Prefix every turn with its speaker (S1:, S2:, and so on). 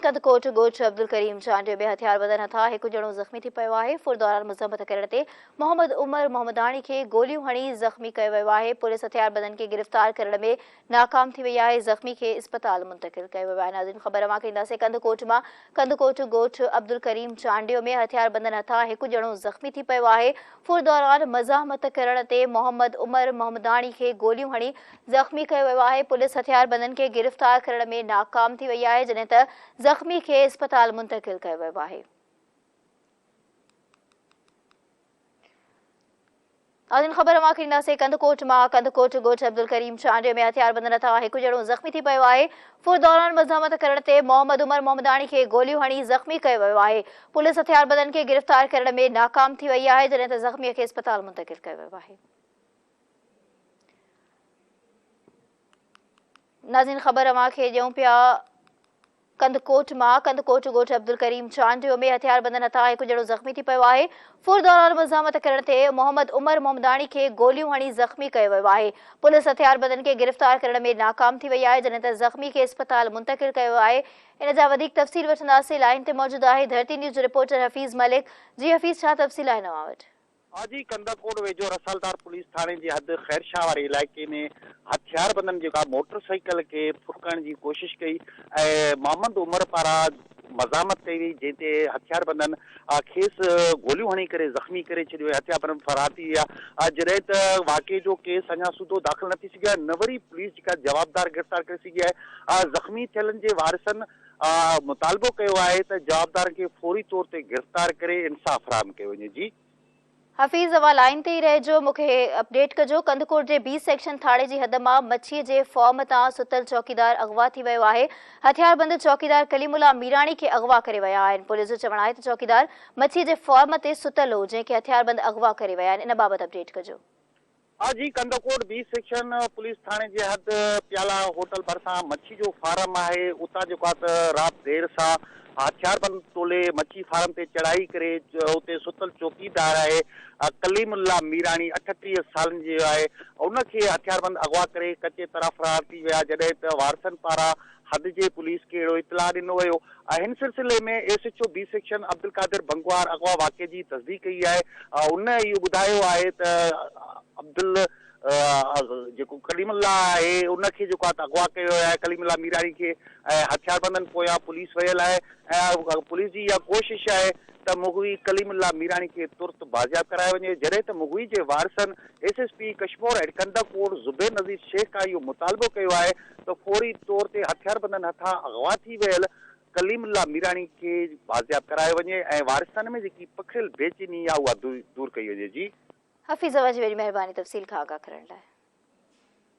S1: ڪنڌڪوٽ ڳوٺ عبدالڪريم چانڊيو ۾ هٿيار بندن هٿان هڪ ڄڻو زخمي ٿي پيو آهي ڦر دوران مذمت ڪرڻ تي محمد عمر محمداڻي کي گوليون هڻي زخمي ڪيو ويو آهي پوليس هٿيار بندن کي گرفتار ڪرڻ ۾ ناڪام ٿي وئي آهي زخمي کي اسپتال منتقل ڪيو ويو آهي ناظرين خبر اوهان کي ڏينداسين ڪنڌڪوٽ مان ڪنڌڪوٽ ڳوٺ عبدالڪريم چانڊيو ۾ هٿيار بندن هٿان هڪ ڄڻو زخمي ٿي پيو آهي ڦر دوران مزاحمت ڪرڻ تي محمد عمر محمداڻي کي گوليون هڻي زخمي ڪيو ويو آهي پوليس هٿياربندن کي گرفتار ڪرڻ ۾ ناڪام ٿي وئي آهي جڏهن ته زخمي کي اسپتال منتقل ڪيو ويو آهي. ناظرين خبر اوهان کي ڏينداسين ڪنڌڪوٽ مان ڪنڌڪوٽ ڳوٺ عبدالڪريم چانڊيو ۾ هٿياربندن هٿان هڪ ڄڻو زخمي ٿي پيو آهي فر دوران مزاحمت ڪرڻ تي محمد عمر محمداڻي کي گوليون هڻي زخمي ڪيو ويو آهي پوليس هٿياربندن کي گرفتار ڪرڻ ۾ ناڪام ٿي وئي آهي جڏهن ته زخمي کي اسپتال منتقل ڪيو ويو آهي ناظرين خبر اوهان کي ڏيون پيا ڪنڌڪوٽ مان ڪنڌڪوٽ ڳوٺ عبدالڪريم چانڊيو ۾ هٿياربندن هٿان هڪ ڄڻو زخمي ٿي پيو آهي فور دوران مزاحمت ڪرڻ تي محمد عمر محمداڻي کي گوليون هڻي زخمي ڪيو ويو آهي پوليس هٿياربندن کي گرفتار ڪرڻ ۾ ناڪام ٿي وئي آهي جڏهن ته زخمي کي اسپتال منتقل ڪيو ويو آهي ان جا وڌيڪ تفصيل وٺنداسين لائن تي موجود آهي ڌرتي نيوز رپورٽر حفيظ ملڪ جي حفيظ ڇا تفصيل آهن اوهان وٽ آجي ڪنڌڪوٽ
S2: ويجهو رسالدار پوليس ٿاڻي جي حد خيرشاهه واري علائقي ۾ هٿياربندن جيڪا موٽر سائيڪل کي ڦرڪڻ جي ڪوشش ڪئي ۽ محمد عمر پاران مزاحمت ڪئي وئي جنهن تي هٿياربندن کيس گوليون هڻي ڪري زخمي ڪري ڇڏيو ۽ هٿياربند فرار ٿي ويا جڏهن ته واقعي جو ڪيس اڃا سوڌو داخل نه ٿي سگهيو آهي نه وري پوليس جيڪا جوابدار گرفتار ڪري سگهي آهي زخمي ٿيلن جي وارثن مطالبو ڪيو آهي ته جوابدارن کي فوري طور تي گرفتار ڪري انصاف فراهم ڪيو وڃي جي. حفيظ
S1: اوهان لائين تي ئي رهجو مون کي اپڊيٽ ڪجو ڪنڌڪوٽ جي بي سيڪشن ٿاڻي جي حد مان مڇي جي فارم تان ستل چوڪيدار اغوا ٿي ويو آهي هٿياربند چوڪيدار ڪليم الله ميراڻي کي اغوا ڪري ويا آهن پوليس جو چوڻ آهي ته چوڪيدار مڇي جي فارم تي ستل هو جنهن کي هٿياربند اغوا ڪري ويا آهن ان بابت اپڊيٽ ڪجو. آء جي
S2: ڪنڌڪوٽ بي سيڪشن پوليس ٿاڻي جي حد پيالا هوٽل ڀرسان مڇي جو فارم آهي اتان جيڪو آهي ته رات دير سان هٿياربند ٽولي مڇي فارم تي چڙهائي ڪري اتي ستل چوڪيدار آهي ڪليم الله ميراڻي اٺٽيهه سالن جو آهي ان کي هٿياربند اغوا ڪري ڪچي طرح فرار ٿي ويا جڏهن ته وارثن پاران حد جي پوليس کي اهڙو اطلاع ڏنو ويو آهي هن سلسلي ۾ S H O B section Abdul Qadir Bhangwar اغوا واقعي جي تصديق ڪئي آهي ان اهو ٻڌايو آهي ته عبدل جيڪو ڪليم الله آهي ان کي جيڪو آهي اغوا ڪيو ويو آهي ڪليم الله ميراڻي کي ۽ هٿياربندن پويان پوليس ويل آهي ۽ پوليس جي اها ڪوشش آهي ته مغوي ڪليم الله ميراڻي کي ترت بازياب ڪرايو وڃي جڏهن ته مغوي جي وارثن S S P Kashmore and Kandhkot Zubair Nazir Shaikh کان اهو مطالبو ڪيو آهي ته فوري طور تي هٿياربندن هٿان اغوا ٿي ويل ڪليم الله ميراڻي کي بازياب ڪرايو وڃي ۽ وارثن ۾ جيڪي پکڙيل بي چيني آهي
S1: اها دور
S2: ڪئي
S1: وڃي
S2: جي.
S1: حفيظ اوهان
S2: جي وڏي
S1: مهرباني تفصيل
S2: کان
S1: آگاهه
S2: ڪرڻ
S1: لاء.